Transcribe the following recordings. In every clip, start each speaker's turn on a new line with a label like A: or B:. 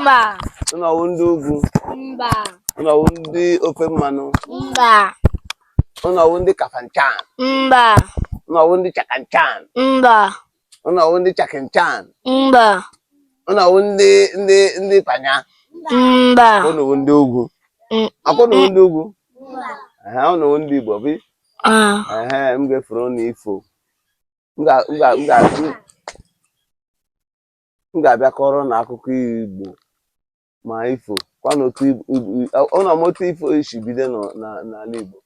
A: Mba. Unu ọwụ ndị ugwu? Mba. Unu ọwụ ndị ofe mmanụ? Mba. Unu ọwụ ndị kafanchan? Mba. Unu ọwụ ndị chakanchan? Mba. Unu ọwụ ndị chakinchan? Mba. Unu ọwụ ndị ndị ndị panya? Mba. Unu ọwụ ndị ugwu? Mm. Akwa unu ọwụ ndị ugwu? Mba. Unu ọwụ ndị Igbo bi? Ah. M ga-efuru unu ifo. M ga m ga m ga m ga-abịa kọọrọ ụnụ akụkọ igbo ma ifo kwa na otu ib- ib- i- ọ- ọ na m otu ifo si bido nọ- na- n'ala igbo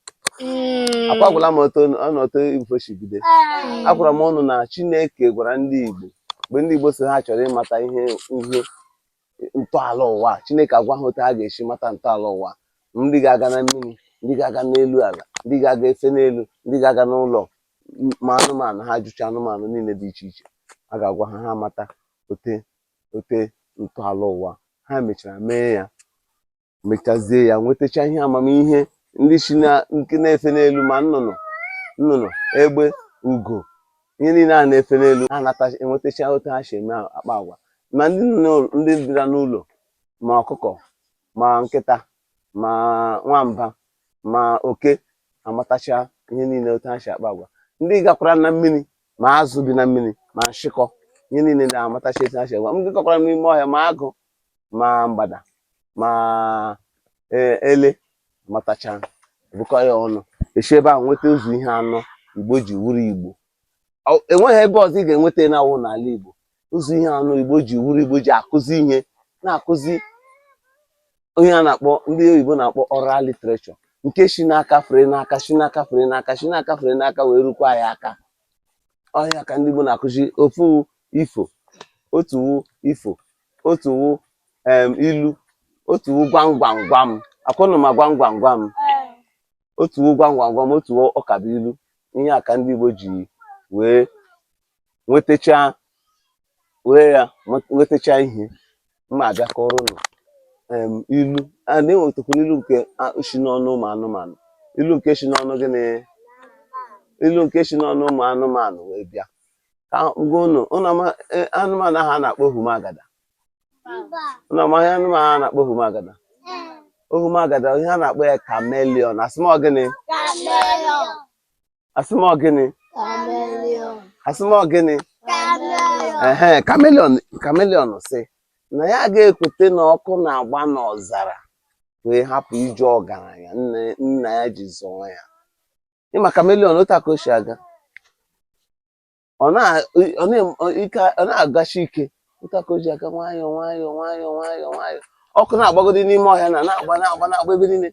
A: akwa agwala m otu ọ na otu ifo si bido agwara m ụnụ na chineke gwara ndị igbo mgbe ndị igbo sị ha chọrọ ịmata ihe ihe ntọala ụwa a, chineke agwa ha otu ha ga-esi mata ntọala ụwa a. ndị ga-aga na mmiri ndị ga-aga n'elu ala ndị ga-aga efe n'elu ndị ga-aga n'ụlọ ma anụmanụ ha jụcha anụmanụ niile dị iche iche a ga-agwa ha ha mata ote ote ntọala ụwa ha mechara mee ya mechazie ya nwetacha ihe amamihe ndị si na nke na-efe n'elu ma nnụnụ nnụnụ egbe ugo ihe niile a na-efe n'elu ha nata enwetacha otu ha si eme akpa agwa ma ndị nọ n'ụlọ- ndị bịara n'ụlọ ma ọkụkọ ma nkịta ma nwamba ma oke amatacha ihe niile otu ha si akpa agwa ndị gakwara na mmiri ma azụ bi na mmiri ma nshịkọ ihe niile na-amatacha etu ha si agwa ndị gakwara n'ime ọhịa ma agụ ma mgbada ma e, ele amatacha bukọ ha ọnụ e si ebe ahụ nweta ụzọ ihe anọ igbo ji wuru igbo enweghị ebe ọzọ ị ga-enweta na-awụ n'ala igbo ụzọ ihe anọ igbo ji wuru igbo ji akụzi ihe na-akụzi ihe a na-akpọ ndị oyibo na-akpọ oral literature nke si n'aka fere n'aka si n'aka fere n'aka si n'aka fere n'aka wee rukwaa ha aka ọ ihe a ka ndị igbo na-akụzi ofu wụ ifo otu wụ ifo otu wụ ilu otu wụ gwam gwam gwam akwa ụnụ ma gwam gwam gwam otu wụ gwam gwam gwam otu wụ ụkabụilu ihe a ka ndị Igbo ji wee nwetacha were ya nwetacha ihe m ga-abịa kọọrọ ụnụ ilu a na-enwetakwara ilu nke si n'ọnụ ụmụ anụmanụ ilu nke si n'ọnụ gịnị ilu nke si n'ọnụ ụmụ anụmanụ wee bịa ka gwa ụnụ ụnụ e, anụmanụ ahụ a na-akpọ ohumagada ụnụ ma ihe anụmanụ a na-akpọ ohumagada ohumagada ihe a na-akpọ ya chameleon asị m ọ gịnị asị m ọ gịnị asị m ọ gịnị ehe chameleon chameleon sị na ya agaghị ekwute na ọkụ na-agba n'ọzara wee hapụ ije ọgaranya nne nna ya ji zụọ ya ị ma chameleon otu aka o si aga ọ na-agashi ike otu a ka o ji aga nwayọọ nwayọọ nwayọọ nwayọọ nwayọọ ọkụ na-agbagodi n'ime ọhịa na na-agba na-agba na-agba ebe niile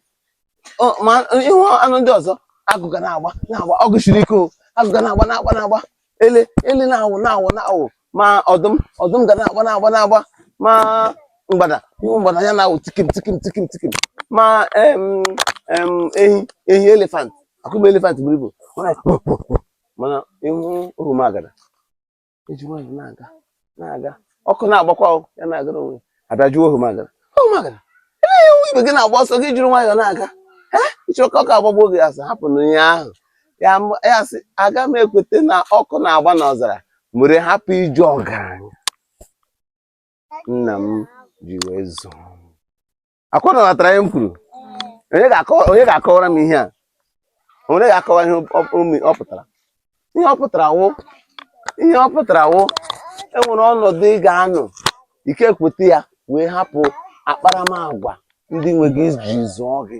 A: ma ịhụ anụ ndị ọzọ agụ ga na-agba na-agba ọgụ siri ike o agụ ga na-agba na-agba na-agba ele ele na-awụ na-awụ na-awụ ma ọdụm ọdụm ga na-agba na-agba na-agba ma mgbada ịhụ mgbada ya na-awụ tikim tikim tikim tikim ma ehi ehi elefant akụba elefant buru ibu mana ịhụ ogwumagada eji nwayọ na-aga na-aga ọkụ na-agbakwa ya na-agara onwe a bịa jụọ ogwumagada ogwumagada elee nwa ibe gị na-agba ọsọ gị jiri nwayọ na-aga ịchọrọ ka ọkụ agbagbuo gị a sị hapụnụ ihe ahụ ya sị aga m ekweta na ọkụ na-agba n'ọzara were hapụ ije ọgaranya nna m ji wee zụọ ọkwa ụnụ aghọtara ihe m kwuru onye ga-akọwa- onye ga-akọwara m ihe a onye ga-akọwa ihe ọ- ọ- ọ pụtara ihe ọ pụtara wụ ihe ọ pụtara wụ enwere ọnọdụ ị ga-anọ ị ga-ekweta ya wee hapụ akparamagwa ndị nwe gị ji zụọ gị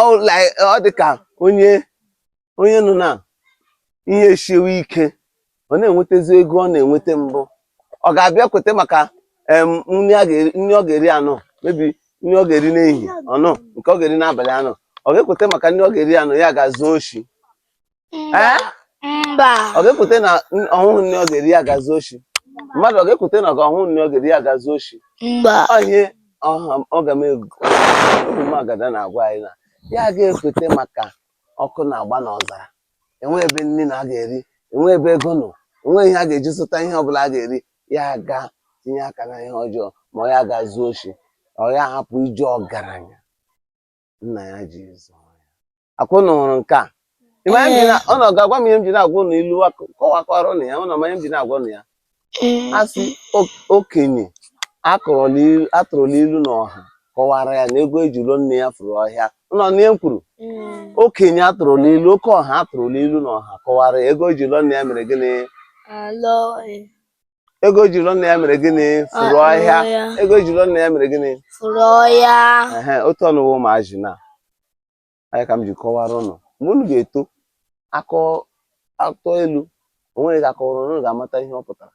A: ọ dị ka onye onye nọ na ihe esiwe ike ọ na-enwetazi ego ọ na-enweta mbụ ọ ga-abịa kweta maka nri ọ ga-eri anọ maybe nri ọ ga-eri n'ehihie anọ nke ọ ga-eri n'abalị anọ ọ ga-ekweta maka nri ọ ga-eri anọ ya ga zuo oshi ọ ga-ekwete na ọ hụhụ nri ọ ga-eri ya ga zuo oshi mmadụ ọ ga-ekwete na ọ hụhụ nri ọ ga-eri ya ga zuo oshi ihe ogwumagada na-agwa anyị na ya ga-ekwete maka ọkụ na-agba n'ọzara enwe ebe nri nọ a ga-eri enwe ebe ego nọ enwe ihe a ga-eji zụta ihe ọ bụla a ga-eri ya ga tinye aka na ihe ọjọọ ma ọ ya ga zuo oshi ọ ya hapụ ije ọgaranya nna ya ji zụọ ya ọkwa ụnụ hụrụ nke a Ị ma ihe m ji na- onye ga-agwa m ihe m ji na-agwa ụnụ ilu a kọwakwara ụnụ ya ụnụ ma ihe m ji na-agwa ụnụ ya Ee, a sị o- okenye akụrụla ilu- atụrụla ilu na ọha kọwara ya na ego e ji lụọ nne ya furu ọhịa ụnụ anụ ihe m kwuru mm, okenye atụrụla ilu oke ọha atụrụla ilu na ọha kọwara ya ego e ji lụọ nne ya mere gịnị alọ, eh, ego e ji lụọ nne ya mere gịnị furu ọhịa ego e ji lụọ nne ya mere gịnị furu ọhịa ehe otu ụnụ wụ ụmụazị na anyị ka m ji kọwara ụnụ mgbe unu ga-eto a tụọ ilu onweghị onye ga-akọwara unu ga-amata ihe ọ pụtara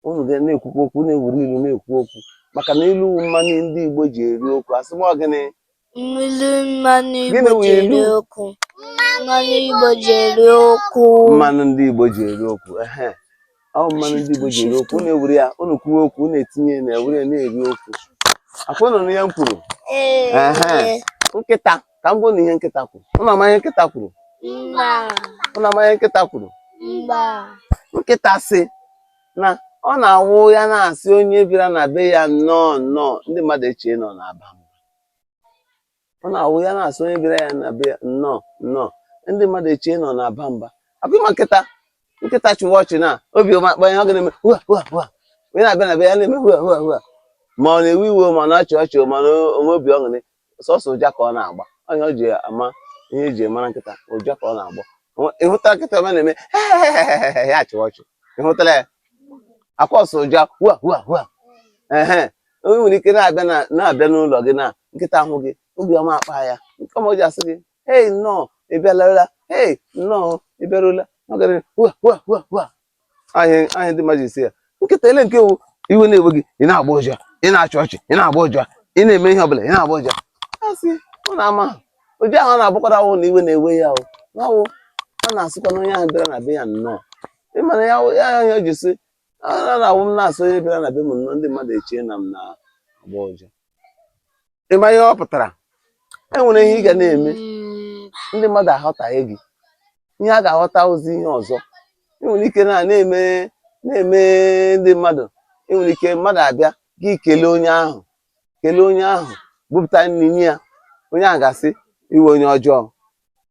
A: unu ga na-ekwukwa okwu na-ewere ilu na-ekwu okwu maka na ilu wụ mmanụ ndị Igbo ji eri okwu asị m ọ gịnị Mmiri mmanụ Igbo ji eri okwu. Mmanụ Igbo ji eri okwu. Mmanụ ndị Igbo ji eri okwu. Ọ mmanụ ndị Igbo ji eri okwu. Unu ewere ya, unu kwuwe okwu, unu etinye na ewere ya na-eri okwu. Akwa nọ ihe m kwuru. Nkịta, ka m gwa unu ihe nkịta kwuru. Unu ama ihe nkịta kwuru? Unu ama ihe nkịta kwuru? Nkịta sị na ọ na-awụ ya na-asị onye bịara na be ya nnọọ nnọọ ndị mmadụ echee na ọ na-aba mba ọ na-awụ ya na-asị onye bịara ya na be ya nnọọ nnọọ ndị mmadụ echee na ọ na-aba mba akwa ịma nkịta nkịta chịwa ọchị na obi ọma akpa ya ọ ga na-eme hua hua hua onye na-abịa na be ya na-eme hua hua hua ma ọ na-ewe iwe ma ọ na-achị ọchị ma ọ na-enwe obi ọṅụrị sọsọ ụja ka ọ na-agba ọ ihe e ji ama ihe e ji mara nkịta ụja ka ọ na-agba Ọ- ị hụtala nkịta ọma na-eme ya achịwa ọchị ị hụtala ya akwa ọ sọ ụja hua hua hua ehe onye nwere ike na-abịa na- na-abịa n'ụlọ gị na nkịta ahụ gị obi ọma akpa ya nke ọma o ji asị gị hei nnọọ ị bịalarụla hei nnọọ ị bịarụla ọ gara hua hua hua hua anyị anyị ndị mmadụ asị ya nkịta ele nke wụ iwe na-ewe gị ị na-agba ụja ị na-achị ọchị ị na-agba ụja ị na-eme ihe ọbụla ị na-agba ụja asị ọ na-ama ha. ụdị ahụ ọ na-abụkwara awụ na iwe na-ewe ya ọ na-awụ ya na-asịkwa onye ahụ bịara na be ya nnọọ ị ma na ya ya ya o ji sị ọ na-awụ m na-asị onye bịara na be m nnọọ ndị mmadụ echee na m na-agba ụja ịma ihe ọ pụtara e nwere ihe ị ga na-eme ndị mmadụ aghọtaghị gị ihe ha ga-aghọtazi ihe ọzọ ị nwere ike na na-eme na-eme ndị mmadụ ị nwere ike mmadụ abịa gị kelee onye ahụ kelee onye ahụ bupụta nri nye ya onye ahụ ga-asị ị wụ onye ọjọọ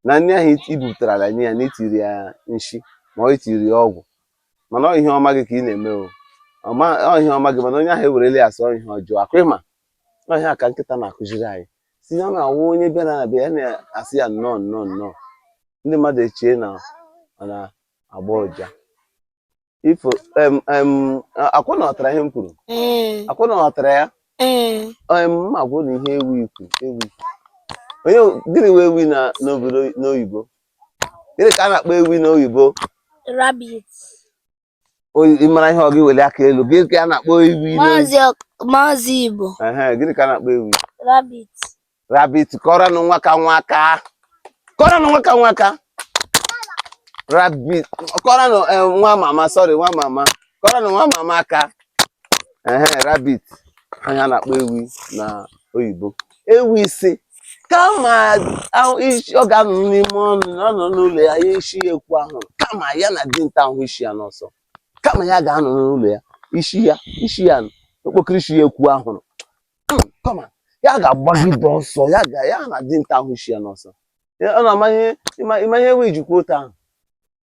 A: na nri ahụ i bupụtarala nye ya na i tiri ya nshi ma ọ i tiri ya ọgwụ mana ọ ihe ọma gị ka ị na-eme o ọ ihe ọma gị mana onye ahụ ewerele ya sị ọ ihe ọjọọ akwa ịma ọ ihe a ka nkịta na-akụziri anyị sị na ọ na-awụ onye bịara na be ya na-asị ya nnọọ nnọọ nnọọ ndị mmadụ echee na ọ na-agba ụja ifo em em akwa unu aghọtara ihe m kwuru ee akwa unu aghọtara ya ee em m agwa unu ihe ewi kwuru ewi ọ gịnị wụ ewi na n'oyibo gịnị ka a na-akpọ ewi n'oyibo ị mara ihe ọ wụ gị weli aka elu gịnị ka a na-akpọ ewi maazị igbo gịnị ka a na-akpọ ewi rabbit rabbit kụọrọnụ nwakanwa aka kụọrọnụ nwakanwa aka rabbit kụọrọnụ eh, nwa mama sorry nwa mama kụọrọnụ nwa mama aka rabbit ọ ihe a na-akpọ ewi na oyibo ewi sị kama ahụ isi ọ ga-anọ n'ime ọnụ na ọ nọ n'ụlọ ya ya isi ya ekwu anwụrụ kama ya na dinta ahụ isi ya n'ọsọ kama ya ga-anọ n'ụlọ ya isi ya isi ya nọ, okpokoro isi ya ekwu anwụrụ Hmm, kama ya ga-agbagide ọsọ ya ga ya na dinta ahụ isi ya n'ọsọ Ya- ọ na-ama ihe ịma ịma ihe wee jikwa otu ahụ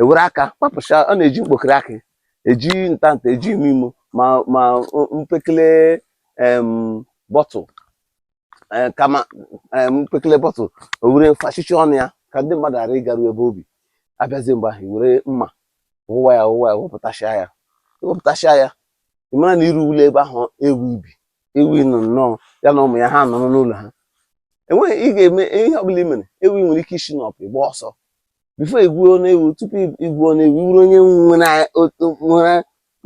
A: ewere aka kpapụcha ọ na-eji mkpokiri akị eji ntanta eji ime imo ma ma mpekele bottle e, kama mpekele bottle o were fachichie ọnụ ya ka ndị mmadụ ghara ịgaru ebe o bi a bịazie mgbe ahụ i were mma wụwa ya wụwa ya wepụtachia ya wepụtachia ya ị mara na i ruole ebe ahụ ewi bi ewi nọ nnọọ ya na ụmụ ya ha nọrọ n'ụlọ ha enweghị ị ga-eme ihe ọbụla i mere ewi nwere ike isi n'ọpụ gbaa ọsọ before i gwuo ọnụ ewi tupu i gwuo ọnụ ewi ị wụrụ onye nwere otu nwere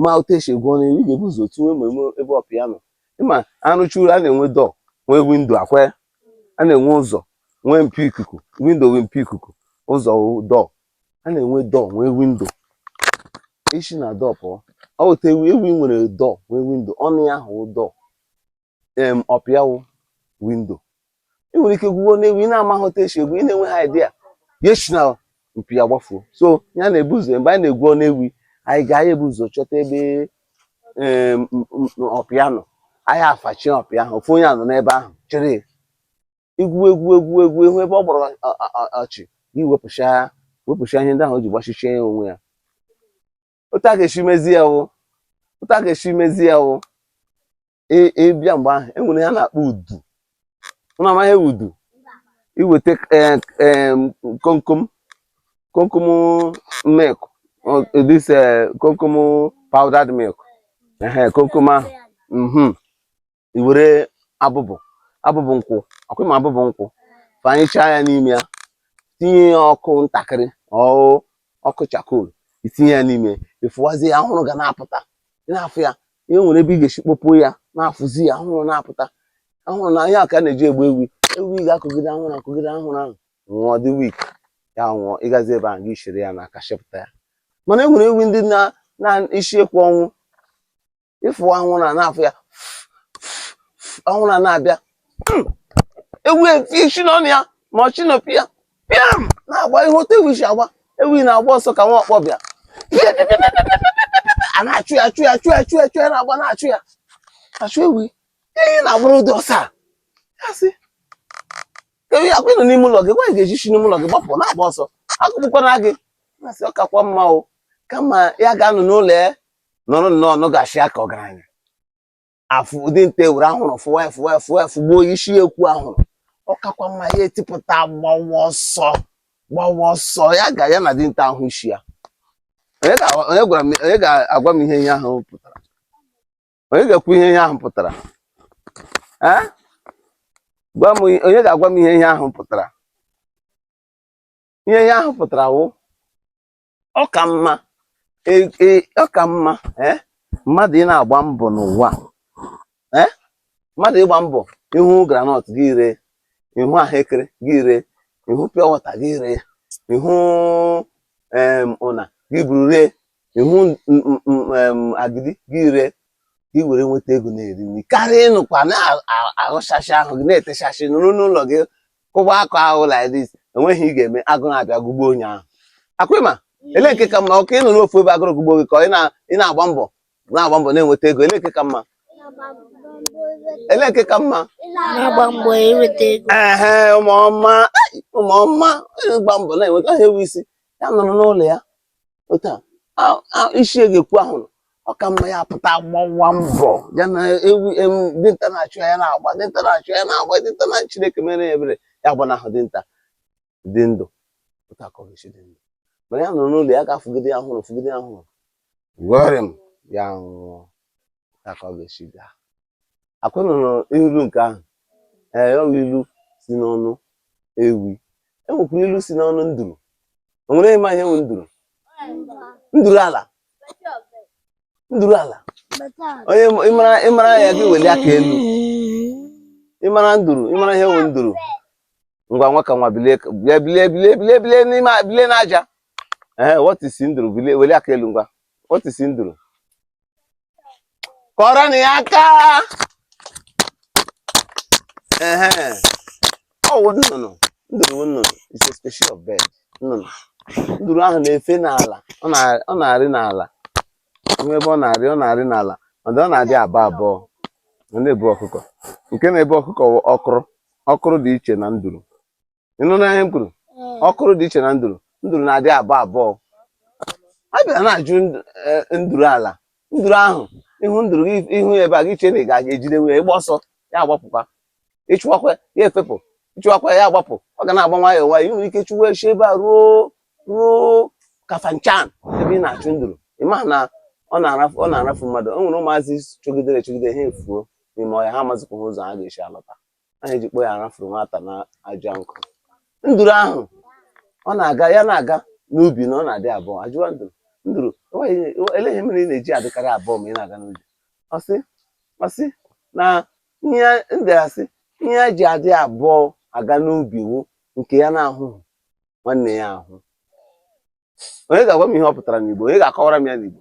A: ma otu esi egwu ọnụ ewi ị ga-ebu ụzọ tinwe ma eme ebe ọpịa nọ ị ma arụchuru a na-enwe door nwee window ọkwa ya a na-enwe ụzọ nwee mpio ikuku window wụ mpio ikuku ụzọ wụ door a na-enwe door nwee window i si na door pụọ ọ wụ otu ewi ewi nwere door nwee window ọnụ ya ahụ wụ door em ọpịa wụ window ị nwere ike gwuo ọnụ ewi na-amaghị otu esi egwu ị na-enweghị idea ya si na mpio ya gbafuo so ya na-ebu ụzọ mgbe anyị na-egwu ọnụ ewi anyị ga anyị ebu ụzọ chọta ebe em, m- m- m- ọpịa nọ anyị afachie ọpịa ahụ ofu onye anọ n'ebe ahụ chere ya. i gwuwe egwu egwu egwu ị hụ ebe ọ gbọrọ ọ- ọ- ọ- ọchị gị wepụcha wepụcha ihe ndị ahụ o ji gbachichie ya onwe ya otu a ga-esi mezi ya wụ otu a ga-esi mezi ya wụ ị- ị bịa mgbe ahụ e nwere ihe a na-akpọ udu ụnụ amaghị udu i weta eh, eh, komkom komkom milk or this eh, komkom powdered milk ehe komkom ahụ mhm i were abụbụ abụbụ nkwụ ọkwa ị ma abụbụ nkwụ fanyechaa ya n'ime ya tinye ya ọkụ ntakịrị ọụ ọkụ charcoal i tinye ya n'ime ị fụwazie ya anwụrụ ga na-apụta ị na-afụ ya e nwere ebe ị ga-esi kpọpuo ya na-afụzi ya anwụrụ na-apụta anwụrụ na ihe a ka a na-eji egbu ewi ewi ga-ekugide anwụrụ ekugide anwụrụ ahụ nwụọ dị weak ya nwụọ ị gazi ebe ahụ gị chere ya n'aka chepụta ya mana e nwere ewi ndị na na isi ekwe ọnwụ ị fụwa anwụrụ na-afụ ya anwụrụ na-abịa hmm. ewi esi n'ọnụ ya ma ọ si n'ọpịa pịam na-agba ihe otu ewi si agba ewi na-agba ọsọ ka nwa ọkpọ bịa a na-achụ ya achụ ya achụ ya achụ ya achụ ya na-agba na-achụ ya achụ ewi ihe na-agbara ụdị ọsọ a ya sị ewi ya kwụnụ n'ime ụlọ gị gwa ị ga-eji si n'ime ụlọ gị gbapụ na-agba ọsọ agụgbukwana gị na-asị ọ kakwa mma o kama ya ga-anọ n'ụlọ ya nọrọ nnọọ nọgasịa ka ọgaranya afụ dinta were ahụrụ fụwa ya fụwa ya fụwa ya fụgbuo isi ya ekwu ahụrụ ọ kakwa mma ya etipụta gbawa ọsọ gbawa ọsọ ya ga ya na dinta ahụ isi ya onye ga- onye gwara m onye ga-agwa m ihe ihe ahụ pụtara onye ga-ekwu ihe ihe ahụ pụtara ee gwa m ihe- onye ga-agwa m ihe ihe ahụ pụtara ihe ihe ahụ pụtara wụ ọ ka mma e- e- ọ ka mma eh, mmadụ ị na-agba mbọ n'ụwa eh, mmadụ ịgba mbọ ị hụ groundnut gị ree ị hụ ahụekere gị ree ị hụ pure water gị ree ị hụ em, ụna gị buru ree ị hụ n- n- n- em, agidi gị ree gị were nweta ego na-eri nri karịa ịnọkwa na-aghụchasị ahụ gị na-etechasị nọrọ n'ụlọ gị kụwa akụ ahụ like this enweghị ị ga-eme agụụ abịa gụgbuo onye ahụ ọkwa ị ma ele nke ka mma ọ ka ịnọrọ ofu ebe agụrụ gụgbuo gị ka ị na- ị na-agba mbọ na-agba mbọ na-enweta ego ele nke ka mma ele nke ka mma na-agba mbọ inweta ego ehe ụmụ ọma ụmụ ọma gba mbọ na-enweta ha ewi sị ya nọrọ n'ụlọ ya otu a isi ya ga-ekwu ahụrụ ọ ka mma ya pụta gbawa mbọ ya na ewi dinta na-achụ ya na-agba dinta na-achụ ya na-agba dinta na Chineke mere ya ebere ya gbanahụ dinta dị ndụ otu a ka ọ ga-esi dị ndụ mana ya nọrọ n'ụlọ ya a ga-afụgide ya ahụrụ fụgide ya ahụrụ worim ya nwụọ otu a ka ọ ga-esi gaa ọkwa ị nụrụ ilu nke ahụ ee ọ bụ ilu si n'ọnụ ewi enwekwara ilu si n'ọnụ nduru o nwere ị ma ihe bụ nduru nduru ala nduru ala onye ma- ị mara ị mara ya gị weli aka elu ị mara nduru ị mara ihe bụ nduru ngwa nwa ka nwa bilie ka- bilie bilie bilie bilie bilie n'ime a- bilie n'aja ee what is nduru bilie weli aka elu ngwa what is nduru kụọrọnụ ya aka ehe ọ wụ nnụnụ nduru nnụnụ is a species of bird nnụnụ nduru ahụ na-efe n'ala ọ na- ọ na-arị n'ala o nwe ebe ọ na-arị ọ na-arị n'ala ọ dị ọ na-adị abụọ abụọ ọ na-ebu ọkụkọ nke na-ebu ọkụkọ wụ ọkụrụ ọkụrụ dị iche na nduru ị nụna ihe m kwuru mm. ọkụrụ dị iche na nduru nduru na-adị abụọ abụọ a bịara na-ajụ e, nduru ala nduru ahụ ị hụ nduru gị hụ ebe a gị chee na ị ga-aga ejide nwunye ị gbaa ọsọ ya agbapụkwa ị chụwakwa ya efepụ ị chụwakwa ya agbapụ ọ ga na-agba nwayọọ nwayọọ i nwere ike chụwa ya si ebe a ruo ruo Kafanchan ebe ị na-achụ nduru ị ma na ọ na-arafu mmadụ o nwere ụmụazị chụgidere chụgide ha efuo n'ime ọhịa ha amazikwa ụzọ ha ga-esi alọta a na-ejikpo ya arafuru nwata na aja nkụ nduru ahụ ọ na-aga ya na-aga n'ubi na ọ na-adị abụọ a jụwa nduru nduru ele ihe mere ị na-eji adịkarị abụọ ma ị na-aga n'ubi ọ sị ọ sị na ihe nduru asị ihe ya ji adị abụọ aga n'ubi wụ nke ya na-ahụghị nwanne ya ahụ onye ga-agwa m ihe ọ pụtara n'Igbo onye ga-akọwara m ya n'Igbo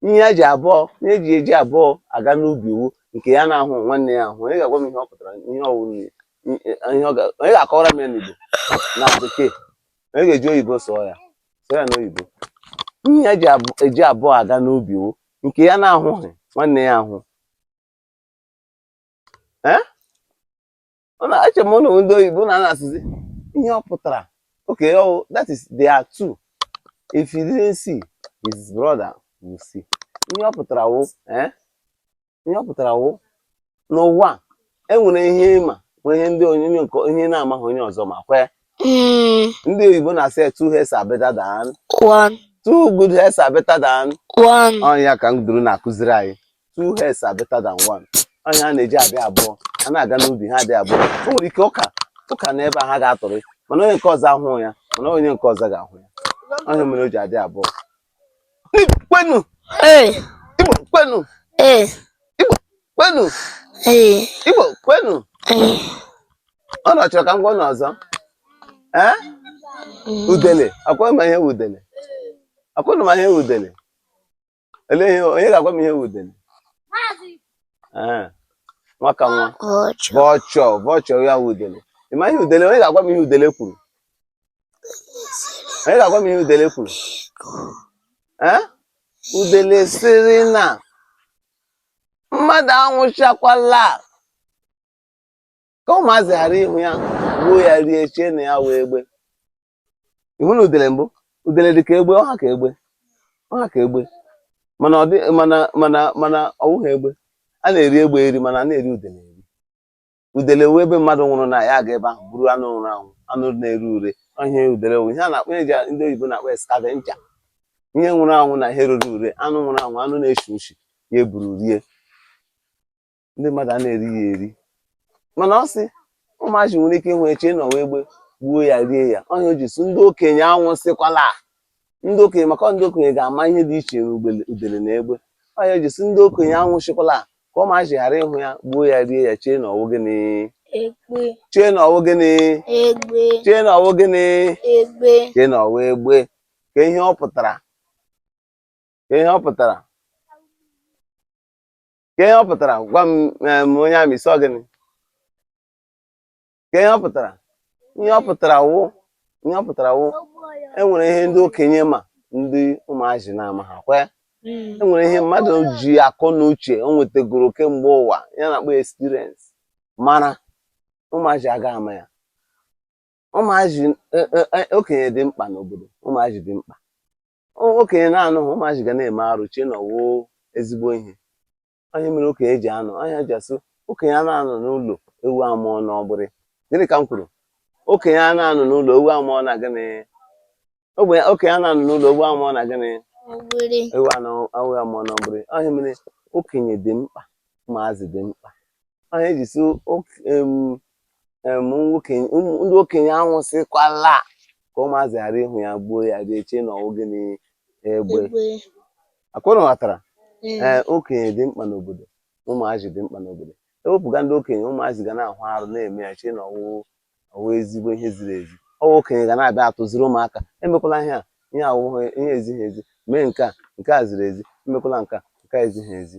A: ihe ya ji abụọ ihe ya ji eji abụọ aga n'ubi wụ nke ya na-ahụghị nwanne ya ahụ onye ga-agwa m ihe ọ pụtara ihe ọ wụrụ ya ihe ọ ga onye ga-akọwara m ya n'Igbo na bekee onye ga-eji oyibo sụọ ya sụọ ya n'oyibo ihe ya ji abụ- eji abụọ aga n'ubi wụ nke ya na-ahụghị nwanne ya ahụ Eh? Unu eche m unu wụ ndị oyibo na na-asụzi ihe ọ pụtara. Okay, oh, that is they are two. If he didn't see, his brother will see. Ihe ọ pụtara wụ eh? ihe ọ pụtara wụ n'ụwa a, e nwere ihe ị ma nwee ihe ndị onye onye nke onye na-amaghị onye ọzọ ma kwee. Mm, Ndị oyibo na-asị ya, two heads are better than one, two good heads are better than one. Ọ ya ka nduru na-akụziri anyị. two heads are better than one ọ ihe ha na-eji adị abụọ a na-aga n'ubi ha dị abụọ o nwere ike ọka ọka nọ ebe a ha ga-atụrụ mana onye nke ọzọ ahụghị ya mana onye nke ọzọ ga-ahụ ya ọ ihe mere o ji adị abụọ Igbo kwenu Ee, Igbo kwenu ee, Igbo kwenu ee, Igbo kwenu ee. unu chọrọ ka m gwa unu ọzọ ee udele ọ kwa unu ma ihe wụ udele ọ kwa unu ma ihe wụ udele Ele ihe onye ga-agwa m ihe udele? Ee. Nwaka nwa. Vulture. Vulture ya udele. Ị ma ihe udele? Onye ga-agwa m ihe udele kwuru? Onye ga-agwa m ihe udele kwuru? Ee? Udele sịrị na mmadụ anwụchakwala ka ụmụazị ghara ịhụ ya gbuo ya rie chee na ya wụ egbe ị hụna udele mbụ udele dị ka egbe ọ ha ka egbe ọ ha ka egbe mana ọ dị mana mana mana ọ wụghị egbe a na-eri egbe eri mana anaghị eri udele eri udele wụ ebe mmadụ nwụrụ na ya aga ebe ahụ buru anụ nwụrụ anwụ anụ na-ere ure ihe udele wụ ihe a na-akpọ ee ndị oyibo na-akpọ scavenger ihe nwụrụ anwụ na ihe rere ure anụ nwụrụ anwụ anụ na-eshi ushi ya eburu rie ndị mmadụ a na-eri ya eri mana ọ sị ụmụazị nwere ike ịnwe eche ịnọwa egbe gbuo ya rie ya onye o ji sị ndị okenye anwụ sịkwala ndị okenye maka ndị okenye ga-ama ihe dị iche n'udele na egbe onye o ji sị ndị okenye anwụ sịkwala ka ụmụazị ghara ịhụ ya gbuo ya rie ya chee na ọwụ gịnị chee na ọwụ gịnị chee na ọwụ gịnị chee na ọwụ egbe ka ihe ọ pụtara ka ihe ọ pụtara kee ihe ọ pụtara gwa m em, onye a m ị sị gịnị kee ihe ọ pụtara ihe ọ pụtara wụ ihe ọ pụtara wụ e nwere ihe ndị okenye ma ndị ụmụazị na-amaha kwe e nwere ihe mmadụ ji akọ na uche o nwetagoro kemgbe ụwa ya a na-akpọ experience mara ụmụazị aga ama ya ụmụazị e- e- e- okenye dị mkpa n'obodo ụmụazị dị mkpa okenye na-anọghị ụmụazị ga na-eme arụ chee na ọ wụ ezigbo ihe ọ ihe mere okenye ji anọ ọ ihe e ji asị okenye anaghị anọ n'ụlọ ewu amụọ n'ọgbụrị gịnị ka m kwuru okenye anaghị anọ n'ụlọ ewu amụọ na gịnị ọgbụrị okenye anaghị anọ n'ụlọ ewu amụọ na gịnị ewu anọ ewu amụọ n'ọgbụrị ọ ihe mere okenye dị mkpa ụmụazị dị mkpa ọ ihe e ji sị ndị okenye anwụsịkwala ka ụmụazị ghara ịhụ ya gbuo ya dị eche na ọ wụ gịnị egbe ọ kwa unu ghọtara ee okenye dị mkpa n'obodo ụmụazị dị mkpa n'obodo ewepụga ndị okenye ụmụazị ga na-ahụ arụ na-eme ya chee na ọ wụ ọ wụ ezigbo ihe ziri ezi ọ wụ okenye ga na-abịa atụziri ụmụaka emekwala ihe a ihe a wụ ihe ezighị ezi mee nke a nke a ziri ezi emekwala nke a nke a ezighị ezi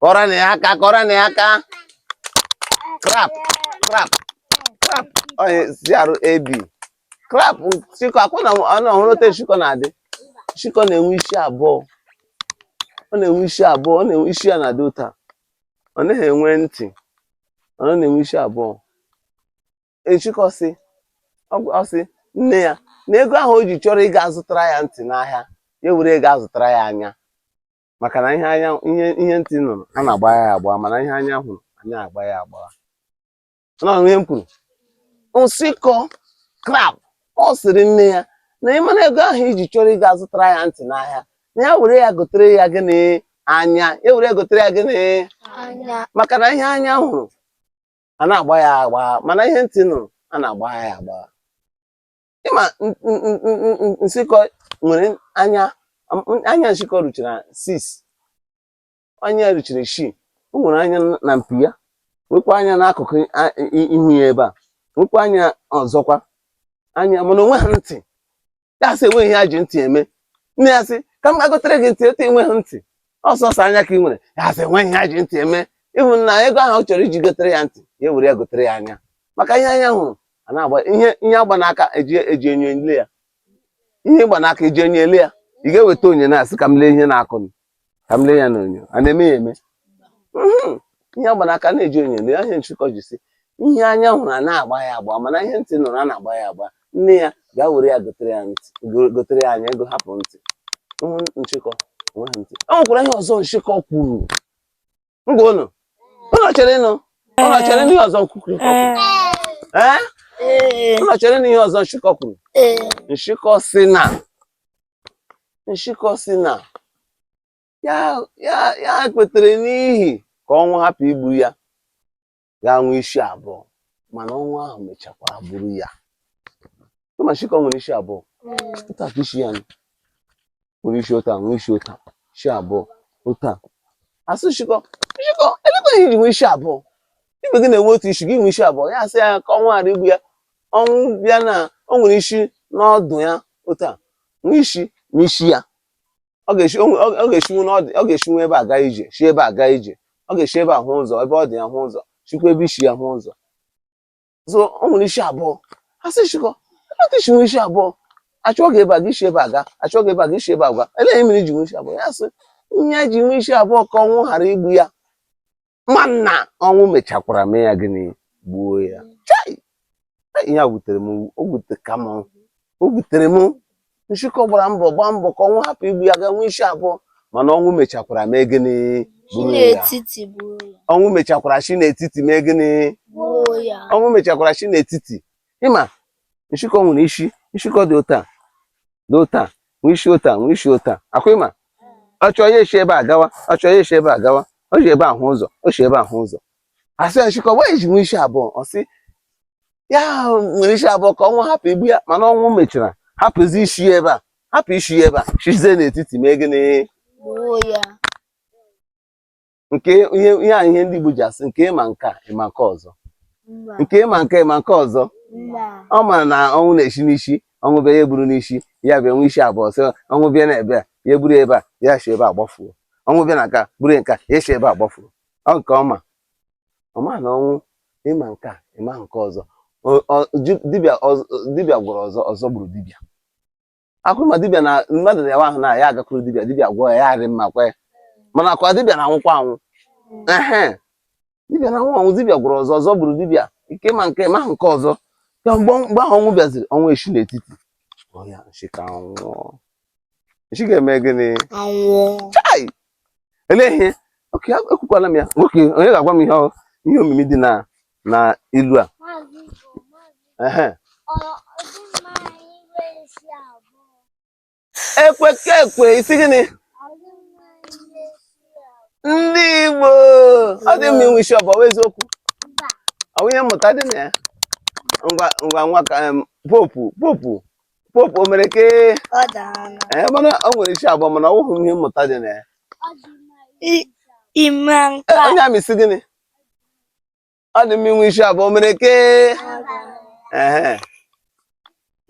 A: kụọrọnụ ya aka kụọrọnụ ya aka crab crab crab onye crab crab nshịkọ ọ kwa unu hụrụ otu nshịkọ na-adị nshịkọ na-enwe isi abụọ ọ na-enwe isi abụọ ọ na-enwe isi ya na-adị otu a ọ naghị enwe ntị ọ na-enwe isi abụọ nshịkọ sị ọ sị nne ya na ego ahụ o ji chọrọ ịga azụtara ya ntị n'ahịa ya were ego zụtara ya anya maka na ihe anya ihe ihe ntị nụrụ a na-agbagha ya agbagha mana ihe anya hụrụ anaghị agbagha ya agbagha na ihe m kwuru nsịkọ crab ọ sịrị nne ya na ị mara ego ahụ i ji chọrọ ịga azụtara ya ntị n'ahịa na ya were ya gotere ya gịnị anya ya were ya gotere ya gịnị maka na ihe anya hụrụ anaghị agbagha ya agbagha mana ihe ntị nụrụ a na-agbagha ya agbagha ị ma nsịkọ nwere anya anya nsịkọ ruchara 6 anya ruchara 6 o nwere anya na mpi ya nwekwa anya n'akụkụ ihu ya ebe a nwekwa anya ọzọkwa anya mana o nweha ntị ya sị enweghị ihe e ji ntị eme nne ya sị ka m ga gotere gị ntị etu i nweghị ntị ọ sọsọ anya ka ị nwere ya sị enweghị ihe e ji ntị eme ị hụ na ego ahụ ọ chọrọ iji gotere ya ntị ya were ya gotere ya anya maka ihe anya hụrụ a na-agba ihe ihe a gba n'aka eji eji enyo ele ya ihe ị gba n'aka eji enyo ele ya ị ga-eweta enyo na-asị ka m lee ihe n'aka m ka m lee ya n'onyonyo a na-eme ya eme Mhm. ihe a gba n'aka na-eji onyonyo lee ihe nshịkọ ji sị ihe anya hụrụ a na-agba ya agba mana ihe ntị nụrụ a na-agba ya agba nne ya gaa were ya gotere ya ntị go- gotere ya anya ego hapụ ntị Ihe nshịkọ enweghị ntị o nwekwara ihe ọzọ nshịkọ kwuru ngwa unu unu chere nụ unu chere nụ ihe ọzọ kwuru ee unu chere nụ ihe ọzọ nshịkọ kwuru nshịkọ sị na nshịkọ sị na ya ya ya kwetere n'ihi ka ọnwụ hapụ igbu ya ya nwee isi abụọ mana ọnwụ ahụ mechakwa buru ya ma nshịkọ nwere isi abụọ otu a ka isi ya nwere isi otu a nwee isi otu a isi abụọ otu a a sị nshịkọ nshịkọ elekwa ihe i ji nwee isi abụọ ibe gị na-enwe otu isi gị nwee isi abụọ ya asị ya ka ọnwụ ghara igbu ya ọnwụ bịa na o nwere isi n'ọdụ ya otu a nwee isi n'isi ya ọ ga-esi o nwe- ọ- ọ ga-esinwu n'ọdụ ọ ga-esinwu ebe a gaa ije si ebe a gaa ije ọ ga-esi ebe a hụ ụzọ ebe ọdụ ya hụ ụzọ sikwa ebe isi ya hụ ụzọ so o nwere isi abụọ a sị nshịkọ elee otu i si nwee isi abụọ a chụọ gị ebe a gị esi ebe a gaa a chụọ gị ebe a gị esi ebe a gaa elee ihe mere i ji nwee isi abụọ ya sị ya ji nwee isi abụọ ka ọnwụ ghara igbu ya mana ọnwụ mechakwara mee ya gịnị gbuo ya ihe a wutere m o wuteka m o wutere m nshịkọ gbara mbọ gbaa mbọ ka ọnwụ hapụ igbu ya gaa nwee isi abụọ mana ọnwụ mechakwara mee gịnị gburu ya n'etiti gbuo ya ọnwụ mechakwara si n'etiti mee gịnị gbuo ya ọnwụ mechakwara si n'etiti ị ma nshịkọ nwere isi nshịkọ dị otu a dị otu a nwee isi otu a nwee isi otu a ọ kwa ị ma ọ chọọ ya esi ebe a gawa ọ chọọ ya esi ebe a gawa o ji ebe a hụ ụzọ o si ebe a hụ ụzọ a sị ya nshịkọ nwaanyị ji nwee isi abụọ ọ sị ya nwere isi abụọ ka ọnwụ hapụ igbu ya mana ọnwụ mechara hapụzi isi ya ebe a hapụ isi ya ebe a sizie n'etiti mee gịnị Gbuo ya. nke ihe ihe a ihe ndị Igbo ji asị nke ị ma nke a ị ma nke ọzọ Mba. nke ị ma nke a ị ma nke ọzọ Mba. ọ mara na ọnwụ na-esi n'isi ọnwụ bịa ya eburu n'isi ya bịa nwee isi abụọ sị ọnwụ bịa na ebe a ya eburu ya ebe a ya si ebe a gbafuo ọnwụ bịa na nke a buru ya nke a ya si ebe a gbafuo ọ nke ọma ọ ma na ọnwụ ị ma nke a ị ma nke ọzọ Ọ- ọ- ju- dibịa ọz- dibịa gwọrọ ọzọ ọzọ gburu dibịa ọ kwa unu ma dibịa na mmadụ rịawa ahụ na ya agakwuru dibịa dibịa gwọọ ya ya arị mma kwe mana ọ kwa dibịa na-anwụkwa anwụ ehe dibịa na-anwụ anwụ dibịa gwọrọ ọzọ ọzọ gburu dibịa nke ị ma nke a ị ma nke ọzọ ka mgbe mgbe ahụ ọnwụ bịaziri ọnwụ esi n'etiti ọ ya nshịkọ anwụọ nshịkọ emee gịnị anwụọ chai elee ihe oke ekwukwala m ya nwoke onye ga-agwa m ihe ọ- ihe omimi dị na na ilu a ekwe ka ekwe ị sị gịnị ndị Igbo ọ dị mma inwe isi abụọ wụ eziokwu ọ bụ ihe mmụta dị na ya ngwa ngwa nwa ka popu popu popu o mere ke ee mana o nwere isi abụọ mana ọ wụghị ihe mmụta dị na ya onye amị ị sị gịnị ọ dị mma inwe isi abụọ o mere ke ehe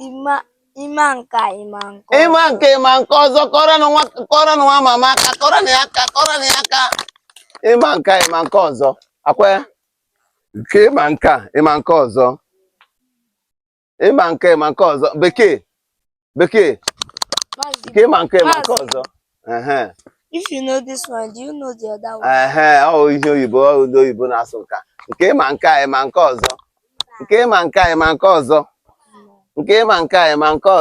A: ịma ịma nke a ịma nkọ. ịma nke a ịma nke ọzọ kụọrọnụ nwa kụọrọnụ nwa mama aka kụọrọnụ ya aka kụọrọnụ ya aka ịma nke a, ịma nke ọzọ ọ kwa ya nke ịma nke a, ịma nke ọzọ ịma nke a ịma nke ọzọ bekee bekee nke ịma nke a ịma nke ọzọ if you know this one do you know the other one ehe ọ ihe oyibo ọ ụdị oyibo na-asụ nke a nke ịma nke a ịma nke ọzọ nke ịma nke a ịma nke ọzọ nke ịma nke a ịma nke ọzọ